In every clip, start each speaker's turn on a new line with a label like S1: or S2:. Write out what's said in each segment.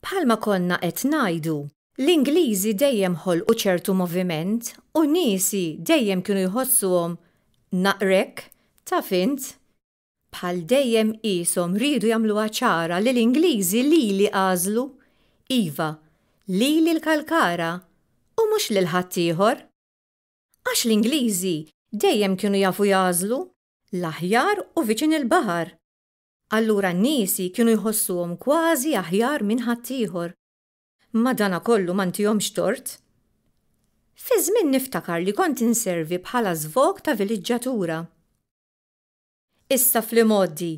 S1: Bħalma konna qed ngħidu, l-Ingliżi dejjem ħolqu ċertu moviment u n-niesi dejjem kienu jħossuhom naqrek, taf int, bħal dejjem qieshom riedu jagħmluha ċara li l-Ingliżi lili għażlu, iva, lili l-Kalkara u mhux lil ħaddieħor. Għax l-Ingliżi dejjem kienu jafu jagħżlu l-aħjar u viċin il-baħar. Allura n-nisi kienu jħossuhom kważi aħjar minn ħaddieħor. Madanakollu ma ntihomx tort. Fi żmien niftakar li kont inservi bħala żvog ta' viliġġatura. Issa fl-imgħoddi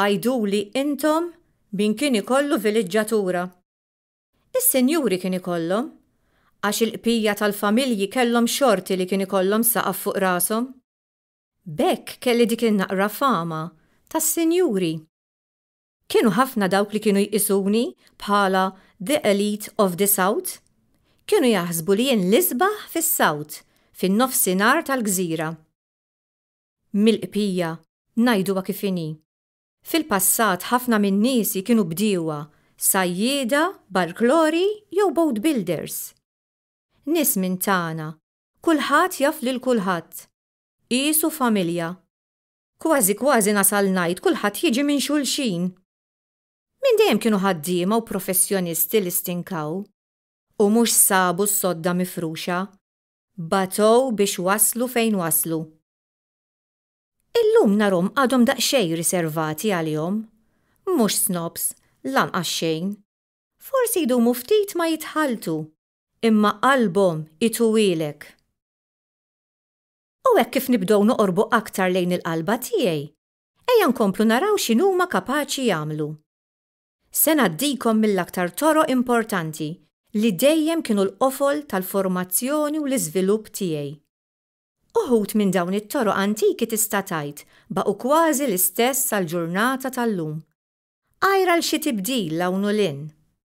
S1: għiduli intom min kien ikollu viliġġatura. Is-sinjuri kien ikollhom, għax il-bqija tal-familji kellhom xorti li kien ikollhom saqaf fuq rashom. B'hekk kelli dik in-naqra fama tas-sinjuri. Kienu ħafna dawk li kienu jqisuni bħala the elite of the South. Kienu jaħsbu li jien l-isbaħ fis-South, fin-Nofsinhar tal-Gżira. Mill-qbpija, ngħiduha kif inhi. Fil-passat ħafna minn niesi kienu bdiewa, sajjieda, barklori jew boat builders. Nies minn tagħna. Kulħadd jaf lil kulħadd. Qisu familja. Kważi kważi nasal ngħid kulħadd jiġi minn xulxin. Minn dejjem kienu ħaddiema u professjonisti li stinkaw u mhux sabu s-sodda mifruxa, batgħu biex waslu fejn waslu. Illum narhom għadhom daqsxejn riservati għalihom. Mhux snobs, lanqas xejn. Forsi jdumu ftit ma jitħalltu, imma qalbhom ituwielek. U hekk kif nibdew noqorbu aktar lejn il-qalba tiegħi, ejja nkomplu naraw x'inhuma kapaċi jagħmlu. Se ngħaddikom mill-aktar toroq importanti li dejjem kienu l-qofol tal-formazzjoni u l-iżvilupp tiegħi. Uħud minn dawn it-toroq antiki tista' tgħid baqgħu kważi l-istess sal-ġurnata tal-lum, għajr għal xi tibdil 'l hawn u 'l hinn.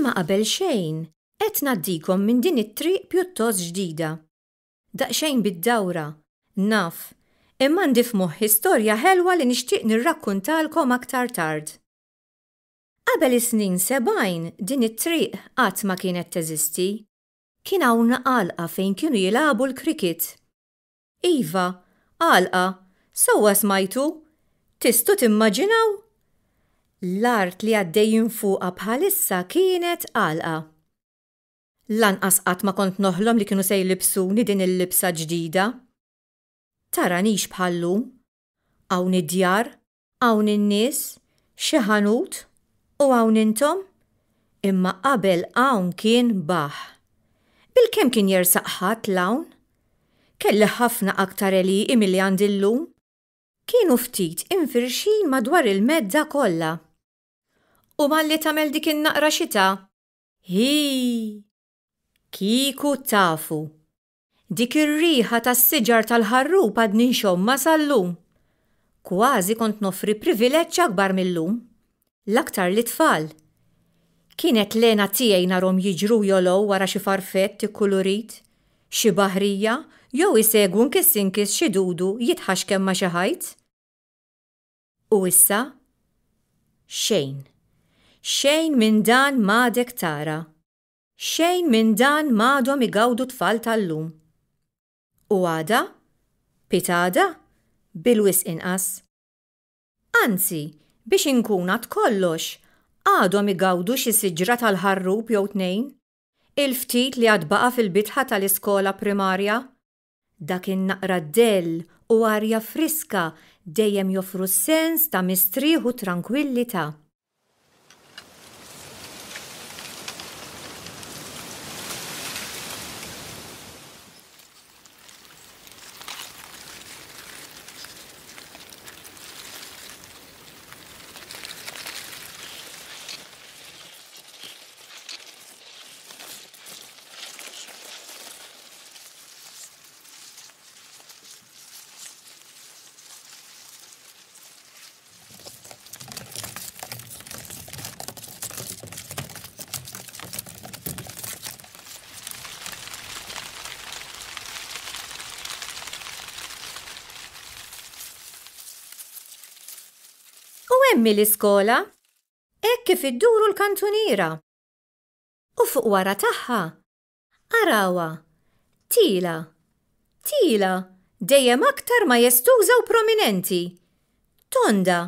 S1: Imma qabel xejn, qed ngħaddikom minn din it-triq pjuttost ġdida. Daqsxejn bid-dawra, naf, imma għandi f'moħħi storja ħelwa li nixtieq nirrakkuntalkom aktar tard. Qabel is-snin sebgħin din it-triq qatt ma kienet teżisti. Kien hawn għalqa fejn kienu jilagħbu l-cricket. Iva, għalqa, sewwa smajtu? Tistgħu timmaġinaw? L-art li għaddejjin fuqha bħalissa kienet għalqa. Lanqas qatt ma kont noħlom li kienu se jlibbsuni din il-libsa ġdida. Taranix bħal-lum. Hawn id-djar, Hawn in-nies, xi ħanut, u hawn intom? Imma qabel hawn kien baħħ. Bilkemm kien jersaq ħatt 'l hawn? Kelli ħafna aktar għelieqi milli għandi llum. Kienu ftit imfirxin madwar il-medda kollha. U malli tagħmel dik in-naqra xita! Hi! Kieku tafu! Dik ir-riħa tas-siġar tal-ħarrub għadni nxommha sal-lum. Kważi kont noffri privileġġ akbar mil-lum. L-aktar lit-tfal. Kienet l-hena tiegħi narhom jiġru jolgħu wara xi farfett ikkulurit, xi baħrija jew isegwu nkiss inkiss xi dudu jitħaxkem ma' xi ħajt. U issa? Xejn. Xejn minn dan m'għadek tara. Xejn minn dan m'għadhom igawdu t-tfal tal-lum. U għada? Pitgħada? Bil-wisq inqas. Anzi, biex inkun għad kollox, għadhom igawdu xi siġra tal-ħarrub jew tnejn, il-ftit li għad baqa' fil-bitħa tal-iskola primarja, Dak in-naqra dell u arja friska dejjem joffru sens ta' mistrieħ u trankwillità. U hemm hi l-iskola, hekk kif idduru l-kantuniera. U fuq wara tagħha Arawha! Tila! Tila! Dejjem aktar majestuża u prominenti! Tonda!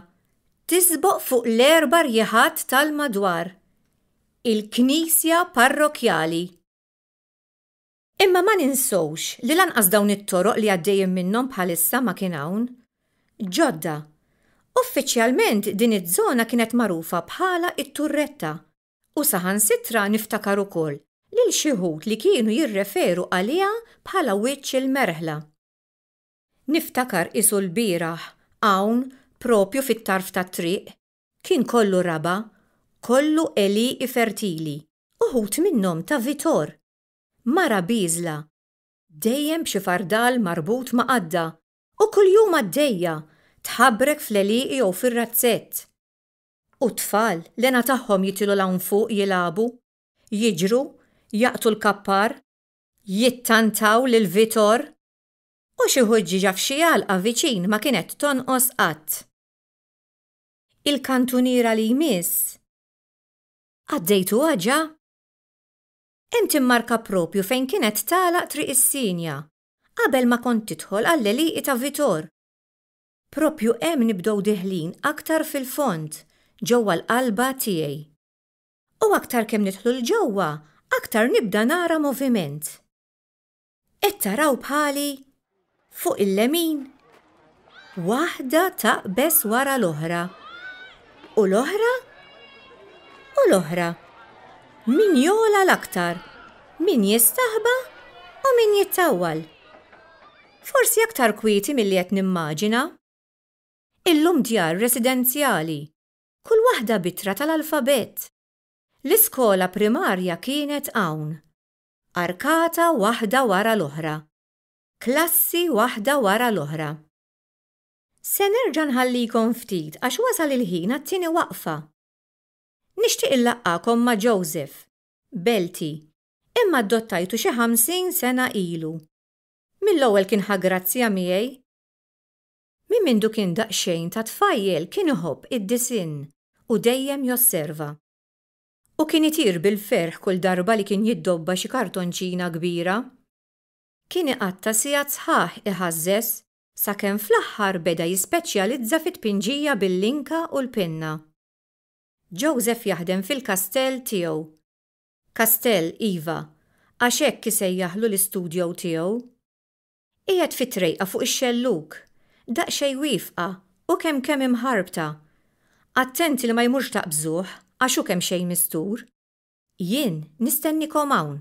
S1: Tisboq fuq l-erba' rjieħat tal-madwar! Il-knisja parrokkjali! Imma ma ninsewx li lanqas dawn it-toroq li għaddejjin minnhom bħalissa ma kien hawn. Ġodda. Uffiċjalment din iż-żona kienet magħrufa bħala t-Turretta U saħansitra niftakar ukoll lil xi wħud li kienu jirreferu għaliha bħala wiċċ il-merħla. Niftakar qisu lbieraħ hawn proprju fit-tarf tat-triq kien kollu raba', kollu għelieqi fertili, uħud minnhom ta' Vitor! Mara bieżla, dejjem b'xi fardal marbut ma' qadda u kuljum għaddejja tħabrek fl-għelieqi jew fir-razzett. U t-tfal, l-hena tagħhom jitilu 'l hawn fuq jilagħbu, jiġru, jaqtu l-kappar, jittantaw lil Vitor, u xi ħuġġieġa f'xi għalqa viċin ma kienet tonqos qatt. Il-kantuniera li jmiss? Għaddejtuha ġa? Hemm timmarka proprju fejn kienet tagħlaq Triq is-Sinja, qabel ma kont tidħol għall-għelieqi ta' Vitor. Proprju hemm nibdew deħlin aktar fil-fond, ġewwa l-qalba tiegħi. U aktar kemm nidħlu 'l ġewwa, aktar nibda nara moviment. Qed taraw bħali? Fuq il-lemin? Waħda taqbeż wara l-oħra. U l-oħra? U l-oħra? Min jogħla l-aktar? Min jistaħba u min jittawwal? Forsi aktar kwieti milli qed nimmaġina. Illum djar residenzjali, kull waħda b'ittra tal-alfabett. L-iskola primarja kienet hawn. Arkata waħda wara l-oħra. Klassi waħda wara l-oħra. Se nerġa' nħallikom ftit għax wasal il-ħin għat-tieni waqfa. Nixtieq inlaqqagħkom ma' Joseph, Belti, imma adottajtu xi ħamsin sena ilu. Mill-ewwel kien ħa grazzja miegħi. Minn mindu kien daqsxejn ta' tfajjel kien iħobb id-disinn u dejjem josserva. U kien itir bil-ferħ kull darba li kien jiddobba xi kartonċina kbira. Kien iqatta' sigħat sħaħ iħażżeż sakemm fl-aħħar beda jispeċjalizza fit-tpinġija bil-linka u l-pinna. Joseph jaħdem fil-kastell tiegħu Kastell, Iva, għax hekk isejjaħlu l-istudjow tiegħu. Qiegħed fi trejqa fuq ix-xellug, daqsxejn wiefqa u kemm kemm imħarbta. Attent li ma jmurx taqbżuh għax hu kemmxejn mistur. Jien nistennikom hawn.